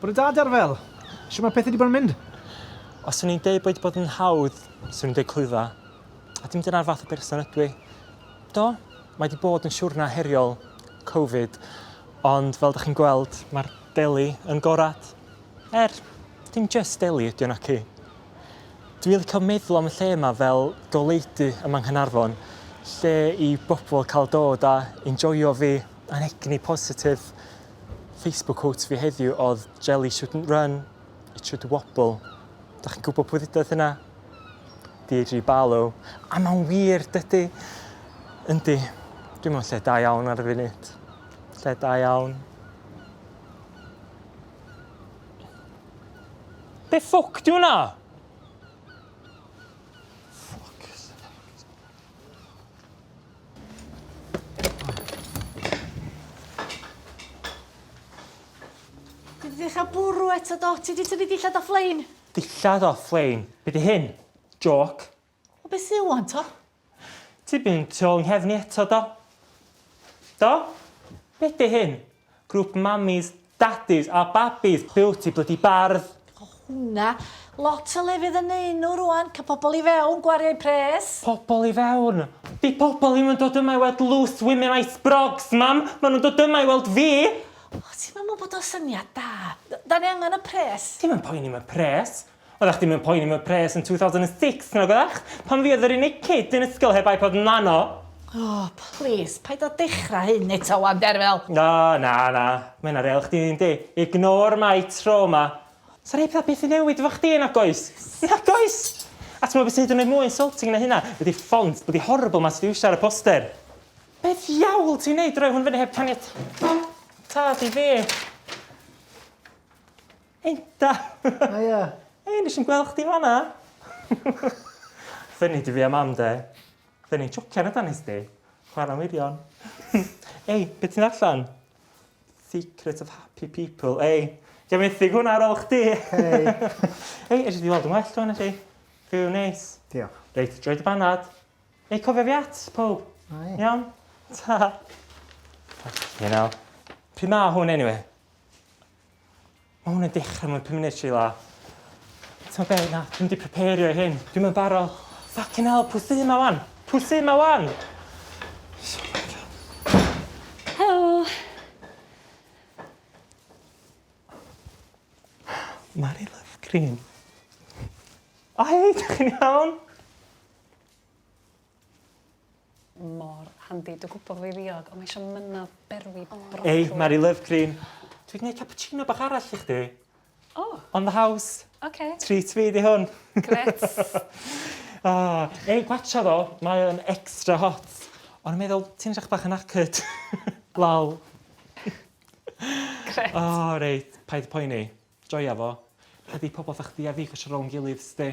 Bore da Derfel! Shwt mae pethau wedi bod yn mynd? Os swn i'n deud bod bod yn hawdd, swn i'n deud clwydda. A dim dyna'r fath o berson ydw i. Do, mae wedi bod yn siwrna heriol, Covid, ond fel da chi'n gweld, mae'r deli yn gorad. Er, dim just deli ydy o naci. Dwi wedi cael meddwl am y lle yma fel goleudy ym Manghanarfon, lle i bobl cael dod a enjoio fi a'n egni positif. Facebook quote fi heddiw oedd jelly shouldn't run, it should wobble. Da chi'n gwybod pwy ddudodd hynna? Deirdre Barlow. A mae'n wir, dydy. Yndi. Dwi'n meddwl lle da iawn ar y funud. Lle da iawn. Be ffwc di hwnna? Ddechrau bwrw eto do, ti wedi tynnu dillad off lein? Dillad off lein? Be di hyn? Joc? O beth sydd wan to? Ti'n mynd tu ôl i nghefn i eto do? Do? Be di hyn? Grŵp mamis, dadis a babis! Be wti, blydi bardd? O hwna! Lot o lefydd yn neu nhw rwan, ca pobl i fewn, gwario eu pres. Pobl i fewn? Di pobl ddim yn dod yma i weld loose women icebrogs, mam! Ma nhw'n dod yma i weld fi! O, ti'm yn meddwl bod o'n syniad da? Da ni angen y pres. Ti'm yn poeni am y pres. Oeddach chdi mewn poeni am y pres yn 2006, nag oeddach? Pan fi oedd yr unig kid yn ysgol heb iPod Nano! O, plis, paid â dechra hyn eto 'wan, Derfel! O, na, na, mae hynna real chdi yndi? Ignore my trauma. Sa rhei petha byth yn newid efo chdi, nag oes? Nag oes! A t'mod be' sy hyd yn oed mwy insulting na hynna ydi ffont blydi horrible 'ma ti 'di iwsio ar y poster. Be' ddiawl ti'n neud, roi hwn fyny heb caniatâd i fi? Heita! Haia! Hei, nes i'm gweld chdi fanna! Funny di fi a mam de. Funny, jocian ydan nes di? Chwarae'n wirion. Ei, be ti'n allan? Secret of happy people. Ei, gen methyg hwnna ar ôl chdi. Hei. Ei, eisiau di weld yn well o'n chi. Fyw neis. Diolch. Reit, droi dy banad. Ei, cofio fi at, pob. Ai. Iawn? Ta. Ie nawr. Pryd ma hwn anyway? Ma' hwn yn dechra mewn pum munud Sheila. T'mo' be' na, dwi'm 'di prepario i hyn. Dwi'm yn baro. Ffycin 'ell, pw sy 'ma ŵan? Pw sy 'ma ŵan? Helo. Mari Love Cream. O hei, 'dych chi'n iawn? Mor handi. Dwi gwbo fo i ddiog ond mae isio mynna berwi brocoli. Ei, Mari Love Cream. Dwi 'di neud cappuccino bach arall i chdi. O! On the house. Oce. Treat fi 'di hwn. Grêt. O, ei, gwatsiad o, mae o'n extra hot. O'n i'n meddwl, ti'n edrach bach yn knackered. Lol. Grêt. O, reit, paid poeni. Joia fo. Ydi pobol 'tha chdi a fi cwsio rownd gilydd, 'sti.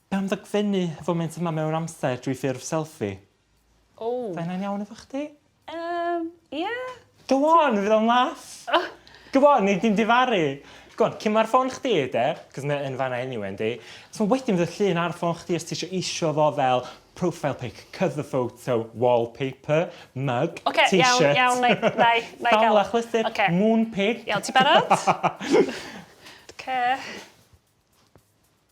Pam ddogfennu y foment yma mewn amser drwy ffurf selffi? Ww. Fy' hynna'n iawn efo chdi? Yym, ie. Go on, fydd o'n laff. Go on, nei di'm difaru. Go on, cyn ma'r ffôn chdi de, 'c'os mae yn fanna eniwe yndi? So wedyn fydd y llun ar y ffôn chdi os tisio isio fo fel profile pic, cover photo, wallpaper, mug, Ocê, iawn, iawn, t-shirt, nai, nai, nai ga'l... dafl achlysur, Ocê. moon pic. Iawn, ti barod? Ocê.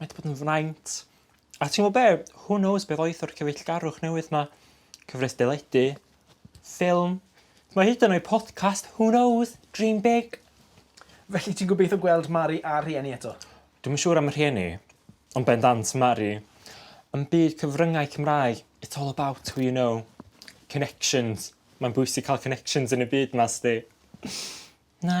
Mae 'di bod yn fraint. A ti'n gwybod be? Who knows beth oedd o'r cyfeillgarwch newydd ma? Cyfres deledu, ffilm, mae hyd yn oed podcast, who knows, dream big. Felly ti'n gobeithio gweld Mari a rhieni eto? Dwi'n siŵr am y rhieni, ond bendant Mari. Yn byd cyfryngau Cymraeg, it's all about who you know. Connections. Mae'n bwysig cael connections yn y byd ma, sdi. Na.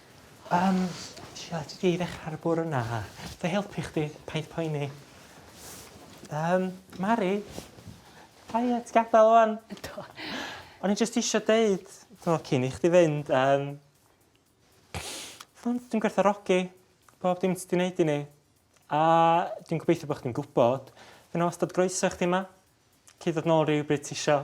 Yym, Sheila, ti 'di ddechra ar y bwrw 'na. Ga i helpu chdi? Paid poeni. Yym, Mari? Quiet, gadael ŵan. Do. O'n i jyst isio deud, tho, cyn i chdi fynd, yym... Tho, dwi'n gwerthfawrogi bob dim ti 'di wneud i ni. A dwi'n gobeithio bod chdi'n gwybod, fydd 'na wastad groeso i chdi yma. Cei ddod nôl rywbryd ti isio.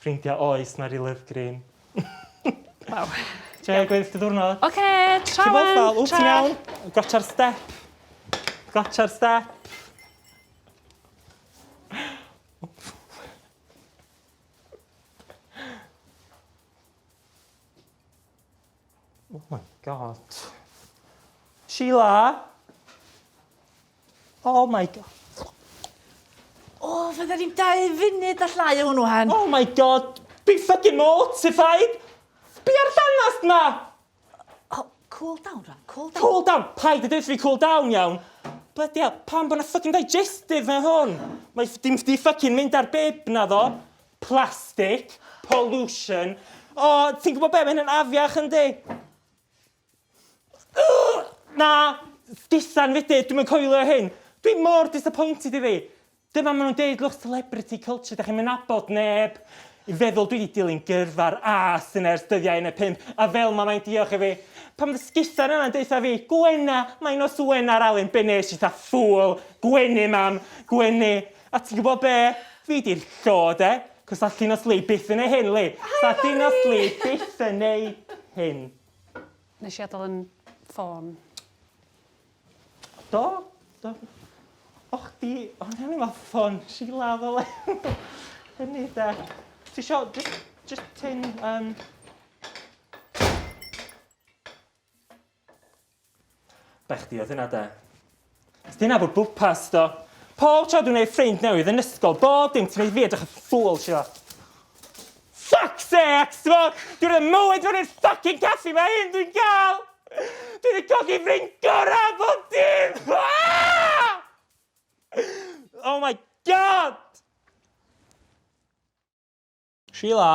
Ffrindia oes Mari Love Green. Waw. Joio gweddill dy ddiwrnod. Oce, tra wan. Ti'n meddwl, ww ti'n iawn? Gotcha'r step. Gotcha'r step. Oh my god. Sheila! Oh my god. O, oh, fydden ni'n dau funud a llai o hwnnw hen. Oh my god! Be fucking mortified! Be ar danast ma? Oh, cool down, Ron, cool down. Cool down! Paid y dweud fi cool down iawn. Bloody hell, pan bod na fucking digestive na hwn? Mae dim di fucking mynd ar bib na ddo. Plastic, pollution. O, ti'n gwybod be, mae hyn yn afiach yn di. Na, sgisan fydyd, dwi'n coelio hyn. Dwi'n mor disappointed i fi. Dyma maen nhw'n deud, look, celebrity culture, da chi'n mynd abod neb. I feddwl dwi wedi dilyn gyrfa'r A sy'n ers dyddiau yn y pump, a fel mae mae'n diolch i fi. Pan mae sgisan yna'n deitha fi, gwena, mae'n os wena ar Alun, be nes i tha ffwl, gwenu mam, gwenu. A ti'n gwybod be? Fi 'di'r llo, de? Cos 'sa Llinos Lee byth yn neu hyn, Lee! 'Sa Llinos Lee byth yn neu hyn. Nes i adal 'yn ffôn. Do, do. O chdi, o'n i efo ffôn Sheila fel hyn. Hynny 'de. Ti isio jyst jyst tynn yym... Bai chdi oedd hynna, de. Dyna fo bwpas do. Pob tro dwi'n ei ffrind newydd yn ysgol, bob dim ti'n ei fi edrych y ffwl, sio. Fuck sex, fo! Dwi'n rhaid mywyd fan i'r fucking caffi mae hyn dwi'n gael! Dwi'n ei cogi ffrind gorau bob dim! Oh my god! Sheila?